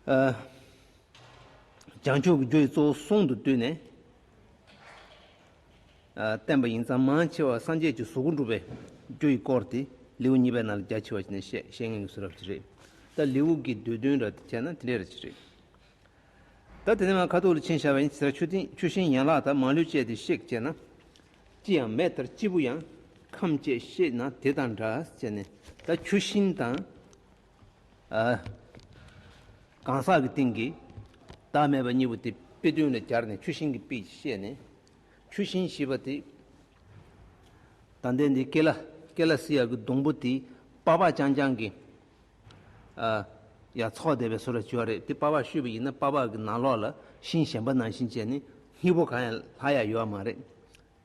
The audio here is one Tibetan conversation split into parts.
བྱང་ཆུབ་ཀྱི་རྒྱུ་ཡི་གཙོ་བོ་གསུང་དུ་བཏུས་ནས་བསྟན་པ་ཡིན་ཙང་མང་ཆེ་བ་སངས་རྒྱས་ཀྱི་གཟུགས་སྐུ་འགྲུབ་པའི་རྒྱུ་ཡི་སྐོར་དེ་ལེའུ་གཉིས་པའི་ནང་ལ་རྒྱ་ཆེ་བ་ཞིག་ནས་བཤད་ངེས་སུ་རབ་བྱེད་རེད་ད་ལེའུ་འགའི་བསྡུས་དོན་ར་བྱས་ན་དེ་འདྲའི་ར་བྱེད་རེད། ད་དེ་ནས་མ་ཁ་ཐུག་ལ་ཕྱིན་བྱ་བ་ཡིན་ཟེར་ཆུ་ཤིང་ཡན་ལག་དག་མ་ལུས་བཅད་དེ་གཤེགས་བྱས་ན་ཅི་ཡང་མེད་ལྟར་སྐྱེས་བུ་ཡང་ཁམས་བཅས་ཤེས་ན་དེ་དང་འདྲ་བྱས་ནས་ད་ཆུ་ཤིང་དང། གང་ཟག་གི་སྟེང་གི་བདག་མེད་པ་གཉིས་པོ་དེ་དཔེ་བདུན་ལ་སྦྱར་ནས་ཆུ་ཤིང་གི་དཔེ་གྱིས་བཤད་ནས། ཆུ་ཤིང་བཞི་པ་དེ། དང་ལྡན་དེ་ཀེ་ལ་ཀེ་ལ་སི་ཡ་གི་སྡོང་པོ་དེ་དཔའ་བ་རྐྱང་རྐྱང་གི། ཡང་ཚོགས་བདེ་བའི་ཟོ་ལ་བྱེད་བ་རེད་དེ་དཔའ་བ་ཤུད་པ་ཡིན་ན་དཔའ་བ་གི་ནང་ལོགས་ལ་ཤིང་གཞན་པ་ནང་བཞིན་བྱས་ནས་སྙིགས་པོ་གང་ཡང་ལྷག་ཡ་ཡོད་བ་མ་རེད།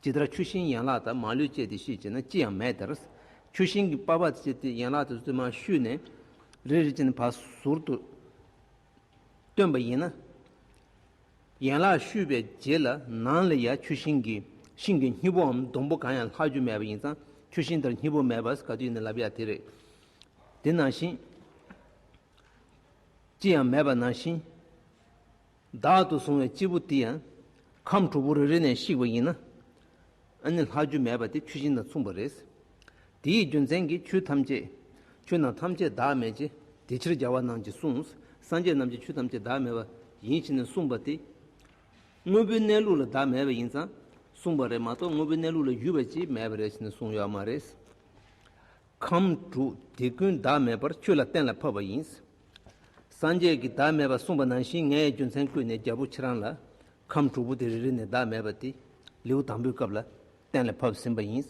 ཇི་ལྟར་ཆུ་ཤིང་ཡན་ལག་དག་མ་ལུས་བཅད་དེ་ཤུད་ཅེ་ན་ཅི་ཡང་མེད་དེར། ཆུ་ཤིང་གི་པ་བ་བཅད་དེ་ཡན་ལག་དུ་བཙུན་མ་ཤུད་ནས། རེ་རེ་ཅན་བ་ཟུར་དུ་སྟོན་པ་ཡིན་ན། ཡན་ལག་ཤུད་པའི་རྗེས་ལ་ནང་ལ་ཡང་ཆུ་ཤིང་གི་ཤིང་གི་སྙི་བོའམ་སྡོང་པོ་གང་ཡང་ལྷག་རྒྱུ་མེད་པ་ཡིན་ཙང་ཆུ་ཤིང་དེར་སྙི་བོ་མེད་པར་ག་དུས་ཡིན་ན་ལབ་ཡག་དེ་རེད། དེ་ནང་བཞིན། ཅི་ཡང་མེད་པ་ནང་བཞིན། བདག་ཏུ་བཟུང་བའི་སྐྱེས་བུ་དེ་ཡང་ཁམས་དྲུག་པོ་རེ་རེ་ནས་བཤིག་པ་ཡིན། ཨ་ནི་ལྷ་རྒྱུད་མེད་པ་དེ་ཆུ་སྦྱིན་དང་མཚུངས་པ་རེད། དེ་ཡི་རྒྱུ་མཚན་གྱིས་ཆུ་ཐམས་ཅད་ཆུ་ནང་ཐམས་ཅད་བདག་མེད་ཀྱི་དེ་ཕྱིར་རྒྱལ་བ་རྣམས་ཀྱིས་གསུངས་སངས་རྒྱས་རྣམས་ཀྱི་ཆུ་ཐམས་ཅད་བདག་མེད་པ་ཡིན་ཕྱིན་ནས་གསུངས་པ་དེ། དངོས་པོའི་གནས་ལུགས་ལ་བདག་མེད་པ་ཡིན་ཙང་གསུངས་པ་རེད་མ་གཏོགས་དངོས་པོའི་གནས་ལུགས་ལ་ཡུལ་བ་ཅིས་མེད་པ་རེད་ཕྱིན་ནས་གསུངས་ཡོད་མ་རེད། ཁམས་དྲུག་དེ་ཀུན་བདག་མེད་པར་ཆུ་ལ་གཏན་ལ་ཕབ་པ་ཡིན། སངས་རྒྱས་ཀྱིས་བདག་མེད་པར་གསུངས་པ་ནང་བཞིན་ངས་རྒྱུ་མཚན་བཀོད་ནས་རྒྱལ་པོ་ཁྱེད་རང་ལ། ཁམས་དྲུག་པོ་དེ་རེ་རེ་ནས་བདག་མེད་པ་དེ་ལེའུ་དང་པོའི་སྐབས་ལ་གཏན་ལ་ཕབ་ཟིན་པ་ཡིན།